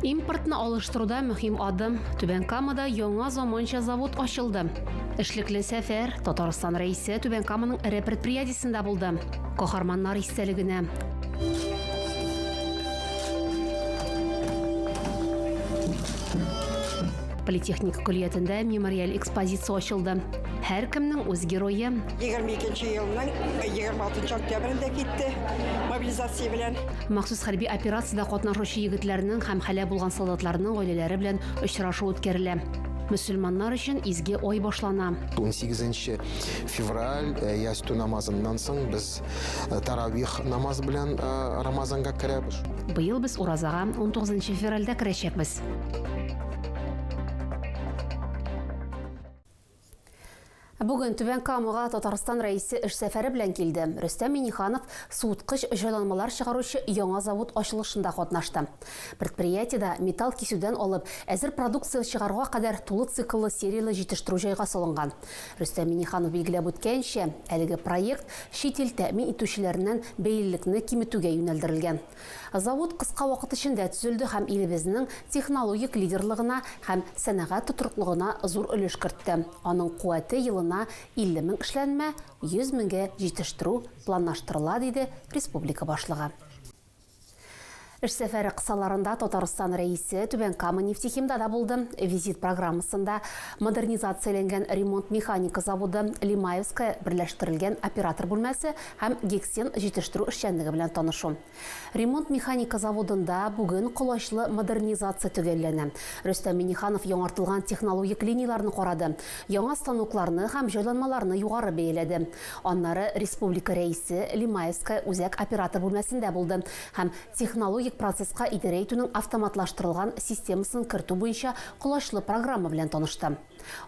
Импортны алыштыруда мөһим адым. Түбән Камада яңа заманча завод ачылды. Эшлекле сәфәр Татарстан рәисе Түбән Каманың эре предприятиесендә булды. Каһарманнар истәлегенә. Политехник көллиятендә мемориаль экспозиция ачылды. Һәркемнең үз герое, 22 елның 26 октябрендә китте мобилизация белән. Махсус хәрби операциядә катнашучы егетләрнең һәм хәлә булган солдатларның гаиләләре белән очрашу үткәрелә. Мөселманнар өчен изге ой башлана. 18 февраль э, ястү намазыннан соң без э, таравих намаз белән э, Рамазанга керәбез. Быел без уразага 19 февральдә керәчәкбез. Бүген Түбән Камага Татарстан Рәисе эш сәфәре белән килде. Рөстәм Миниханов суыткыч җайланмалар чыгаручы яңа завод ачылышында катнашты. Предприятиедә металл кисүдән алып, әзер продукция чыгаруга кадәр тулы цикллы серияле җитештерү җайга салынган. Рөстәм Миниханов билгеләп үткәнчә, әлеге проект чит ил тәэмин итүчеләреннән бәйлелекне киметүгә юнәлдерелгән. Завод кыска вакыт эчендә төзелде һәм илебезнең технологик лидерлыгына һәм сәнәгать тотрыклыгына зур өлеш кертте. Аның куәте елына 50 мең эшләнмә, 100 меңгә җитештерү планлаштырыла, диде республика башлыгы. Эш сәфәре кысаларында Татарстан Рәисе Түбән Кама нефтехимда да булды. Визит программасында модернизацияләнгән ремонт-механика заводы, Лимаевская берләштерелгән оператор бүлмәсе һәм гексен җитештерү эшчәнлеге белән танышу. Ремонт-механика заводында бүген колачлы модернизация төгәлләнә. Рөстәм Миңнеханов яңартылган технологик линияләрне карады, яңа станокларны һәм җайланмаларны югары бәяләде. Аннары республика Рәисе Лимаевская үзәк оператор бүлмәсендә булды һәм технологик процесска идарә итүнең автоматлаштырылган системасын кертү буенча колачлы программа белән танышты.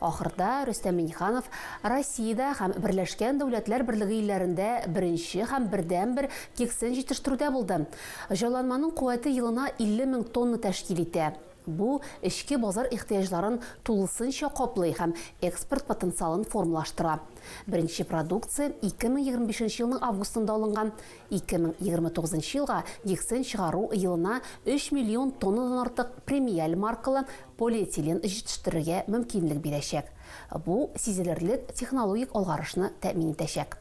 Ахырда Рөстәм Миңнеханов Россиядә һәм Берләшкән Дәүләтләр Берлеге илләрендә беренче һәм бердәнбер кексын җитештерүдә булды. Җайланманың куәте елына 50 мең тонна тәшкил итә. Бу, эчке базар ихтыяҗларын тулысынча каплый һәм экспорт потенциалын формалаштыра. Беренче продукция 2025 елның августында алынган 2029 нчы елга гексен чыгару елына 3 миллион тоннадан артык премиаль маркалы полиэтилен җитештерергә мөмкинлек бирәчәк. Бу сизелерлек технологик алгарышны тәэмин итәчәк.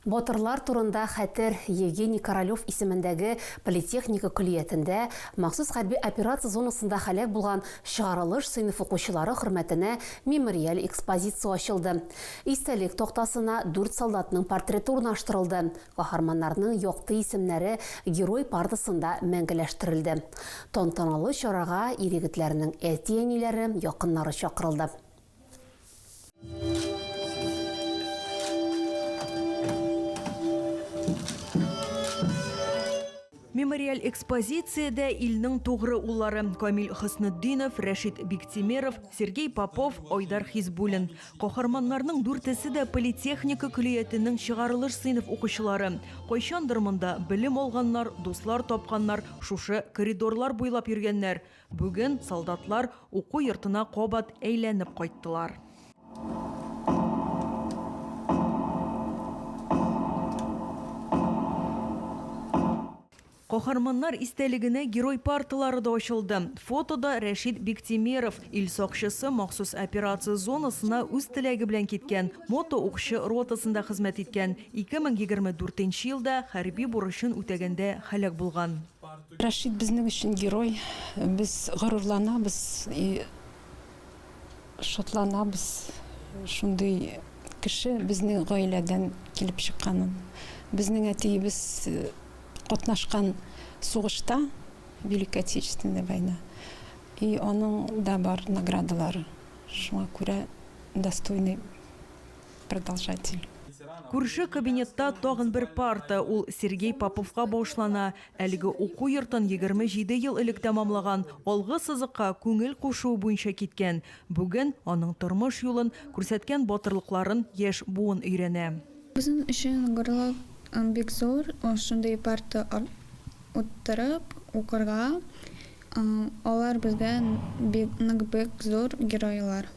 Батырлар турында хәтер Евгений Королев исемендәге политехника көллиятендә махсус хәрби операция зонасында һәлак булган чыгарылыш сыйныф укучылары хөрмәтенә мемориаль экспозиция ачылды. Истәлек тактасына дүрт солдатның портреты урнаштырылды, каһарманнарның якты исемнәре Герой партасында мәңгеләштерелде. Тантаналы чарага ир-егетләрнең әти-әниләре, якыннары чакырылды. Мемориаль экспозициядә илнең тугры уллары, Камил Хөснетдинов, Рәшит Биктимеров, Сергей Попов, Айдар Хизбуллин. Каһарманнарның дүртесе дә политехника көллиятенең чыгарылыш сыйныф укучылары. Кайчандыр монда белем алганнар, дуслар тапканнар, шушы коридорлар буйлап йөргәннәр. Бүген солдатлар уку йортына кабат әйләнеп кайттылар. Каһарманнар истәлегенә Герой парталары да ачылды. Фотода Рәшит Биктимеров, ил сакчысы, махсус операция зонасына үз теләге белән киткән, мотоукчы ротасында хезмәт иткән, 2024 елда хәрби бурычын үтәгәндә һәлак булган. Рәшит безнең өчен герой. Без горурланабыз и шатланабыз шундый кеше безнең гаиләдән килеп чыкканын. Безнең әтиебез катнашкан сугышта, Великая Отечественная война, и аның да бар наградалары. Шуңа күрә достойный продолжатель. Күрше кабинетта тагын бер парта, ул Сергей Поповка багышлана, Әлеге уку йортын егерме җиде ел элек тәмамлаган, алгы сызыкка күңел кушуы буенча киткән. Бүген аның тормыш юлын, күрсәткән батырлыкларын яшь буын өйрәнә. Безнең өчен горурлык бик зур, шундый парта утырып укырга. Алар безгә бик, нык бик зур геройлар.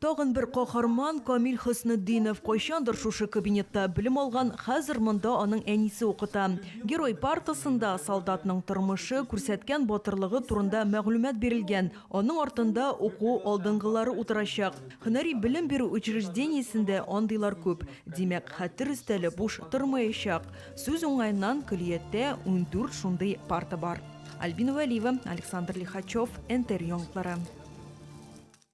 Тагын бер каһарман, Камил Хөснетдинов, кайчандыр шушы кабинетта белем алган, хәзер монда аның әнисе укыта. Герой партасында солдатның тормышы, күрсәткән батырлыгы турында мәгълүмат бирелгән, аның артында уку алдынгылары утырачак. Һөнәри белем бирү учреждениесендә андыйлар күп. Димәк, хәтер өстәле буш тормаячак. Сүз уңаеннан, көллияттә ундүрт шундый парта бар. Альбина Вәлиева, Александр Лихачев, НТР яңгыклары.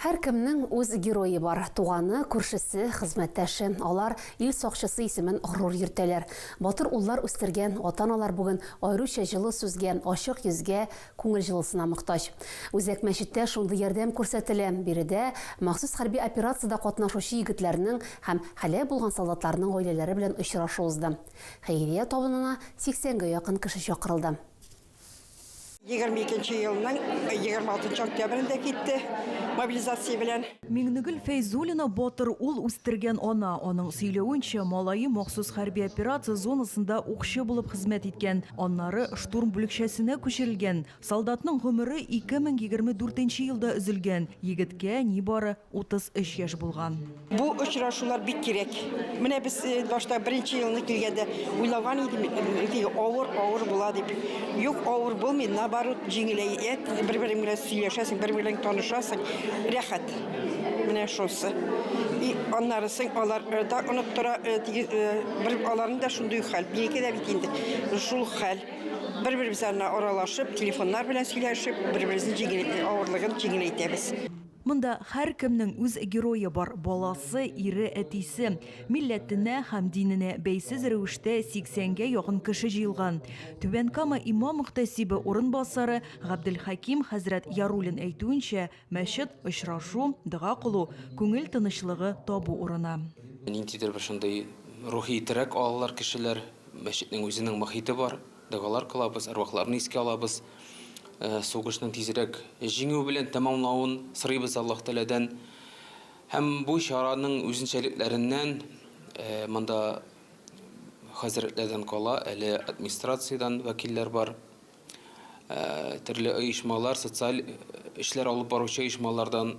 Һәркемнең үз герое бар, туганы, күршесе, хезмәттәше. Алар ил сакчысы исемен горур йөртәләр. Батыр уллар үстергән ата-аналар бүген аеруча җылы сүзгә, ачык йөзгә, күңел җылысына мохтаҗ. Үзәк мәчеттә шундый ярдәм күрсәтелә. Биредә махсус хәрби операциядә катнашучы егетләрнең һәм һәлак булган солдатларның гаиләләре белән очрашу узды. Хәйрия табынына сиксәнгә якын кеше чакырылды. 22 елның 26 октябрендә китте мобилизация белән. Миңнегөл Фәйзуллина батыр ул үстергән ана. Аның сөйләвенчә, малае махсус хәрби операция зонасында укчы булып хезмәт иткән, аннары штурм бүлекчәсенә күчерелгән. Солдатның гомере 2024 елда өзелгән, егеткә нибары 33 яшь булган. Бу очрашулар бик кирәк. Менә без э, башта беренче елны килгәндә уйлаган идем, э, авыр, авыр була дип. Юк, авыр булмый, наоборот, җиңеләй. Э, бер-бер белән сөйләшәсең, бер белән танышасың. Рәхәт. Менә шусы. И аннарысы алар да оныттыра, бер аларны да шундый хәл. Бигә дә бит инде шул хәл. Бер-беребез аралашып, телефоннар белән сөйләшеп, бер-беребезнең авырлыгын җиңеләйтәбез. Монда һәркемнең үз герое бар, баласы, ире, әтисе. Милләтенә һәм диненә бәйсез рәвештә 80 гә якын кеше җыелган. Түбән Кама имам-мөхтәсибе урынбасары Габделхәким хәзрәт Яруллин әйтүенчә, мәчет, очрашу, дога кылу, күңел тынычлыгы табу урыны. Ниндидер бер шундый рухи терәк алалар кешеләр, мәчетнең үзенең мохите бар. Догалар кылабыз, әрвахларны искә алабыз, сугышның тизрәк җиңү белән тәмамлавын сорыйбыз Аллаһ Тәгаләдән. Һәм бу чараның үзенчәлекләреннән монда хәзрәтләрдән кала, әле администрациядән вәкилләр бар. Төрле оешмалар, социаль эшләр алып баручы оешмалардан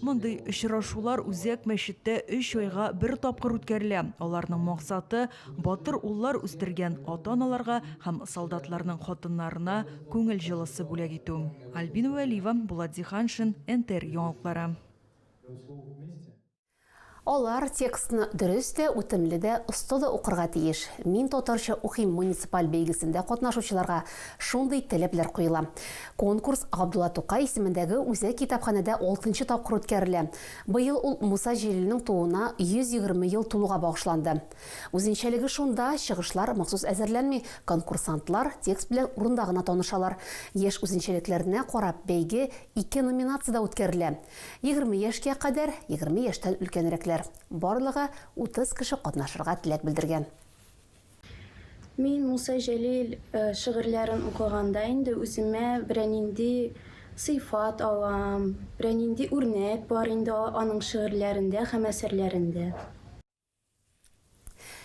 Мондый очрашулар Үзәк мәчеттә өч айга бер тапкыр үткәрелә. Аларның максаты, батыр уллар үстергән ата-аналарга һәм солдатларның хатыннарына күңел җылысы бүләк итү. Альбина Вәлиева, Булат Зиһаншин, НТР яңалыклары. Алар текстны дөрес тә, үтемле дә, оста да укырга тиеш. Мин татарча укыйм муниципаль бәйгесендә катнашучыларга шундый таләпләр куела. Конкурс Габдулла Тукай исемендәге үзәк китапханәдә алтынчы тапкыр үткәрелә. Быел ул Муса Җәлилнең тууына 120 ел тулуга багышланды. Үзенчәлеге шунда, чыгышлар махсус әзерләнми, конкурсантлар текст белән урында гына танышалар. Яшь үзенчәлекләренә карап, бәйге ике номинациядә үткәрелә. Егерме яшькә кадәр, егерме яшьтән өлкәнрәкләр. Барлыгы утыз кеше катнашырга теләк белдергән. Мин Муса Җәлил шигырьләрен укыганда инде үземә берәнинди сыйфат алам, берәнинди үрнәк бар инде аның шигырьләрендә һәм әсәрләрендә.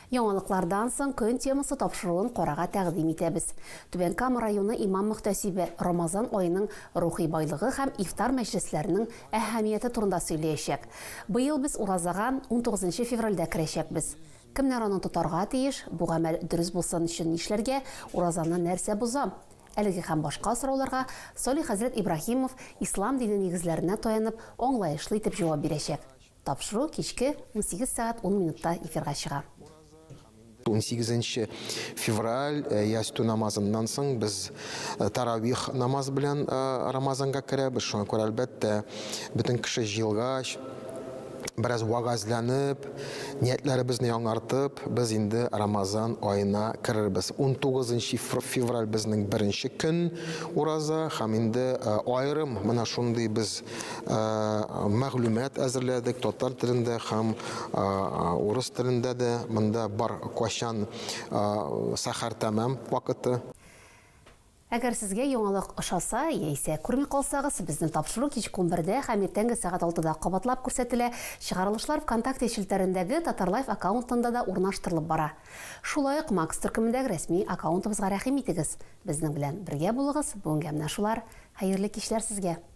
Яңалыклардан соң көн темасы тапшыруын карарга тәкъдим итәбез. Түбән Кама районы имам-мөхтәсибе Рамазан аеның рухи байлыгы һәм ифтар мәҗлесләренең әһәмияте турында сөйләячәк. Быел без уразага унтугызынчы февральдә керәчәкбез. Кемнәр аны тотарга тиеш, бу гамәл дөрес булсын өчен нишләргә, уразаны нәрсә боза? Әлеге һәм башка сорауларга Салих хәзрәт Ибраһимов ислам дине нигезләренә таянып, аңлаешлы итеп җавап бирәчәк. Тапшыру кичке унсигез сәгать ун минутта эфирга чыга. Унсигезенче февраль ястү намазыннан соң без таравих намаз белән Рамазанга керәбез. Шуңа күрә, әлбәттә, бөтен кеше җыелгач, бераз вәгазьләнеп, ниятләребезне яңартып, без инде Рамазан аена керербез. Унтугызынчы февраль безнең беренче көн ураза һәм инде аерым менә шундый без мәгълүмат әзерләдек татар телендә һәм урыс телендә дә монда бар качан сәхәр тәмам вакыты Әгәр сезгә яңалык ошаса, яисә күрми калсагыз, безнең тапшыру кичке унбердә һәм иртәнге сәгать алтыда кабатлап күрсәтелә, чыгарылышлар ВКонтакте челтәрендәге Татарлайф аккаунтында да урнаштырылып бара. Шулай ук Макс төркемендәге рәсми аккаунтыбызга рәхим итегез. Безнең белән бергә булыгыз, бүгенгә менә шулар. Хәерле кичләр сезгә!